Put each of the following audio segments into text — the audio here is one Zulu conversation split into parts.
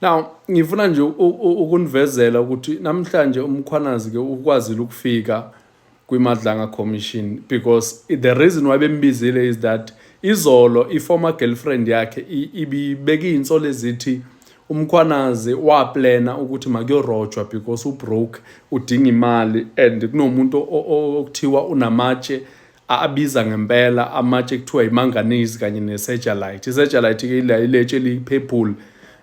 now ngifuna nje ukunivezela ukuthi namhlanje umkhwanazi ke ukwazile ukufika kwimadlanga commission because the reason why bembizile is that izolo i-former girlfriend yakhe ibibeka iy'nsolo ezithi umkhwanazi waplena ukuthi makuyorojwa because ubroke udinga imali and kunomuntu okuthiwa unamatshe abiza ngempela amatshe kuthiwa imanganese kanye nesejalite isejalite ke iletshe eliphephule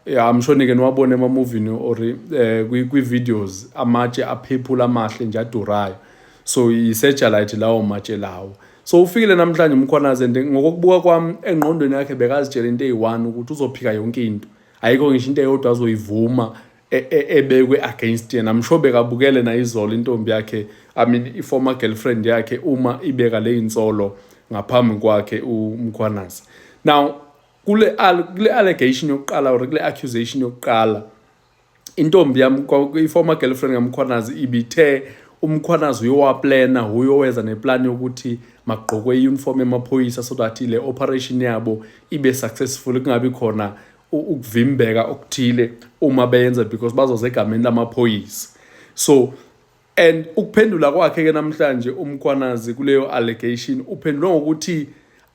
I'm sure nike niwabone emamovini or eh, kwi-videos amatshe aphephula amahle nje adurayo so isejalite lawo matshe lawo so ufikile namhlanje umkhwanazi and ngokokubuka kwami engqondweni yakhe bekazitshela into eyi-one ukuthi uzophika yonke into ayikho ngisho into eyodwa azoyivuma e, e, ebekwe against yena I'm sure bekabukele na izolo intombi yakhe I mean i former girlfriend yakhe uma ibeka le insolo ngaphambi kwakhe uMkhwanazi now kule kule allegation yokuqala or kule accusation yokuqala intombi yam i former girlfriend kaMkhwanazi ibithe umkhwanazi uyowaplana uyoweza neplan yokuthi magqokwe i-uniform emaphoyisa so that le operation yabo ibe successful kungabi khona ukuvimbeka okuthile uma beyenza because bazoza egameni lamaphoyisa so and ukuphendula kwakhe ke namhlanje umkhwanazi kuleyo allegation uphendula ngokuthi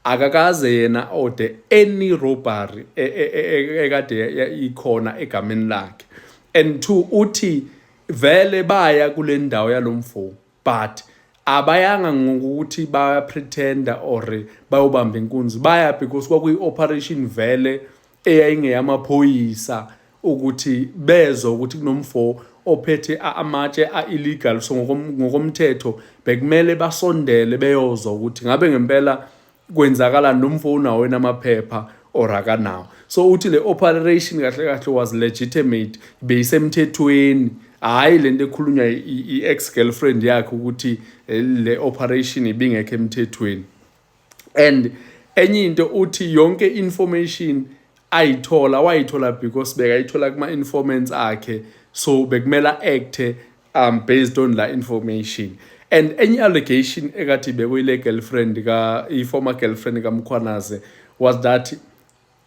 akakaze yena ode any robbery e, e, e, ekade ikhona egameni lakhe and two uthi vele baya kule ndawo yalomfo but abayanga ngokuthi baya pretender or bayobamba inkunzi baya because kwakuyi operation vele eyayingeyamaphoyisa ukuthi bezwe ukuthi kunomfo ophethe amatshe a-illegal so ngokomthetho bekumele basondele beyozwa ukuthi ngabe ngempela kwenzakala nomfo unawo enamaphepha or akanawo so uthi le operation kahle kahle was legitimate beyisemthethweni hhayi le nto ekhulunywa i-ex girlfriend yakhe ukuthi eh, le operation ibingekho emthethweni and enye into uthi yonke information ayithola wayithola because bekayithola kuma-informants akhe so bekumele acthe um based on la information and any allegation ekathi bekuyile girlfriend ka i-former girlfriend kamkhwanaze was that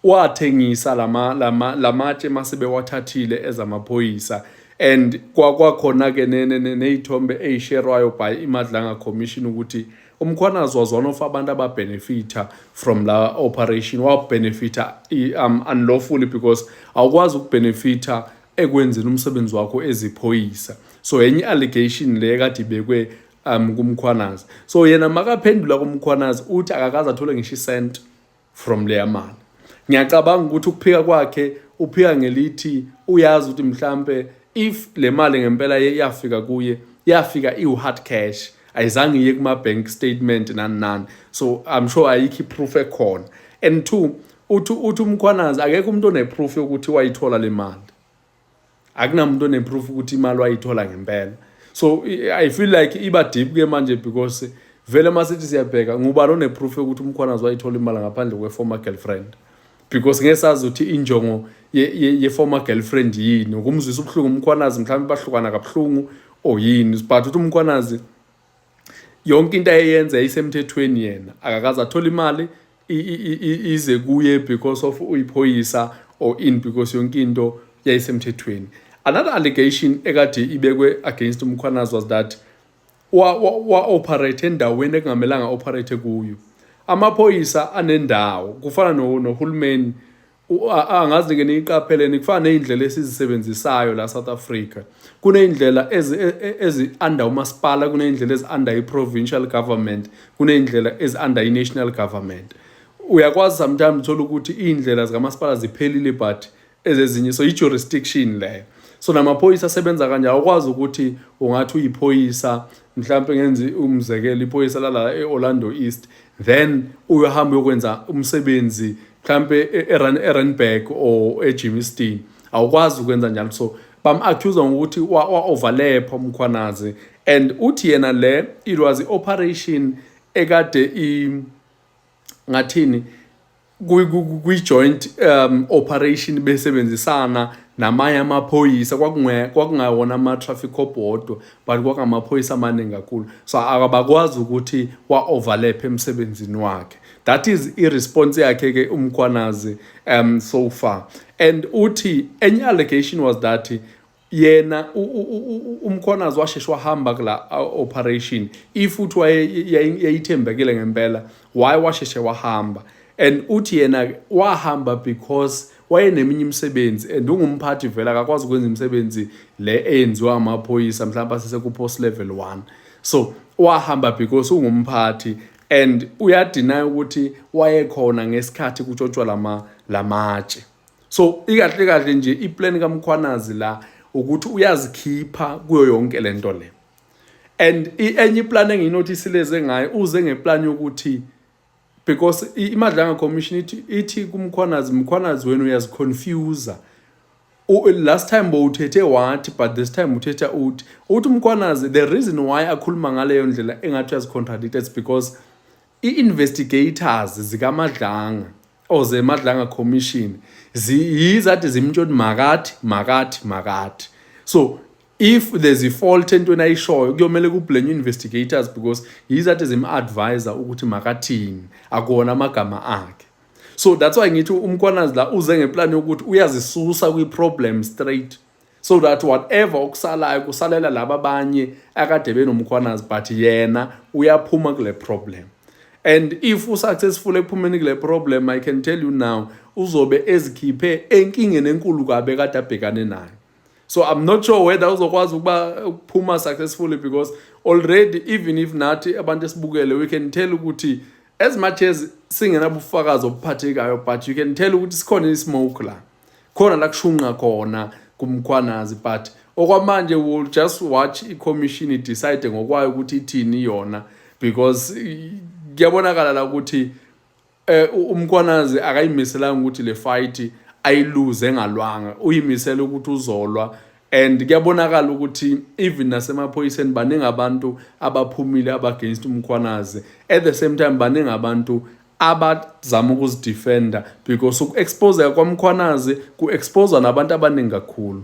wathengisa lama lama lamatshe mase bewathathile ezamaphoyisa and kwakhona ke nezithombe ezisherwayo by imadlanga commission ukuthi umkhwanazi was one of abantu ababenefitha from la operation wabenefitha um unlawfully because awukwazi ukubenefitha ekwenzeni umsebenzi wakho eziphoyisa so enye allegation le kade ibekwe um kumkhwanazi so yena makaphendula kumkhwanazi uthi akakaze athole ngisho isent from leya mali ngiyacabanga ukuthi ukuphika kwakhe uphika ngelithi uyazi ukuthi mhlampe if le mali ngempela yafika kuye yafika iwu-hard cash ayizange iye kuma-bank statement nani nani so i'm sure ayikho i-proof ekhona and two uthi uthi umkhwanazi akekho umuntu oneproof yokuthi wayithola le mali akunamuntu oneproof ukuthi imali wayithola ngempela so i feel like iba deep ke manje because vele uma sithi siyabheka ngubani oneproof yokuthi umkhwanazi wayithola imali ngaphandle kwe-former girlfriend because ngeke sazi ukuthi injongo ye-former ye, ye girlfriend yini ukumzwisa ubuhlungu umkhwanazi mhlawumbe bahlukana kabuhlungu or yini but ukuthi umkhwanazi yonke into ayeyenza yayisemthethweni yena akakaze athole imali ize kuye because of uyiphoyisa or in because yonke into yayisemthethweni another allegation ekade ibekwe against umkhwanazi was that wa-operate endaweni ekungamelanga operate kuyo amaphoyisa anendawo kufana nohulumeni angazi nike niyiqapheleni kufana ney'ndlela esizisebenzisayo la South Africa kuney'ndlela ezi-under e, e, umasipala kuney'ndlela ezi-under i-provincial government kuney'ndlela ezi-under i-national government uyakwazi sometimes uthola ukuthi iy'ndlela zikamasipala ziphelile but ezezinye so i-jurisdiction leyo so namaphoyisa asebenza kanjalo awukwazi ukuthi ungathi uyiphoyisa mhlawumpe ngenzi umzekelo iphoyisa lalala e-orlando east then uyohamba uyokwenza umsebenzi mhlampe e-, e-, eranburg or ejimiston awukwazi ukwenza njalo so bam-accusa ngokuthi wa-overlepha umkhwanazi and uthi yena le it was i-operation ekade i ngathini kwi-joint um operation besebenzisana namanye amaphoyisa kwakungawona ama-traffic cop wodwa but kwakungamaphoyisa amaningi kakhulu so akabakwazi ukuthi wa-overlap emsebenzini wakhe that is i-response yakhe ke umkhwanazi um so far and uthi enye allegation was that yena umkhwanazi washeshe wahamba kula operation if uthi yayithembekile ngempela why washeshe wahamba and uthi yena wahamba because wayeneminye imisebenzi and ungumphathi vele akakwazi ukwenza imisebenzi le eyenziwa amaphoyisa mhlawumbe asesekupost level 1 so wahamba because ungumphathi and uyadinaya ukuthi wayekhona ngesikhathi kutshotshwa lama lamatshe so ikahle kahle nje iplan kaMkhwanazi la ukuthi uyazikhipha kuyo yonke lento le and enye iplan enginotisileze ngayo uze ngeplan yokuthi because imadlanga commission ithi ithi kumkhwanazi mkhwanazi wenu uyaziconfuser last time bowuthethe wathi but this time uthetha uthi uthi umkhwanazi the reason why akhuluma ngaleyo ndlela engathi uyazicontradict it's because i-investigators zikamadlanga or zemadlanga commission yizathi zimtshoni makathi makathi makathi so if there's a fault entweni ayishoyo kuyomele kublenye investigators because yizathi zim-advisa ukuthi makathini akuwona amagama akhe so that's why ngithi umkwanazi la uze ngeplan yokuthi uyazisusa kwi-problem straight so that whatever okusalayo kusalela laba abanye akade benomkhwanazi but yena uyaphuma kule problem and if usuccessful ekuphumeni kule problem i can tell you now uzobe ezikhiphe enkingeni enkulu kabe kade abhekane nayo so i'm not sure whether uzokwazi ukuba ukuphuma successfully because already even if nathi abantu esibukele we can tell ukuthi as much as singenabufakazi obuphathekayo but you can tell ukuthi sikhona ismoke la khona la kushunqa khona kumkhwanazi but okwamanje will just watch i-commission idecide ngokwayo ukuthi ithini yona because kuyabonakala la ukuthi Eh umkwanazi akayimiselanga ukuthi le fight ayiluze engalwanga uyimisela ukuthi uzolwa and kuyabonakala ukuthi even nasemaphoyiseni baningi abantu abaphumile abagainst umkhwanazi at the same time baningi abantu abazama ukuzidefenda because uku-exposeka kwamkhwanazi ku-exposa nabantu abaningi kakhulu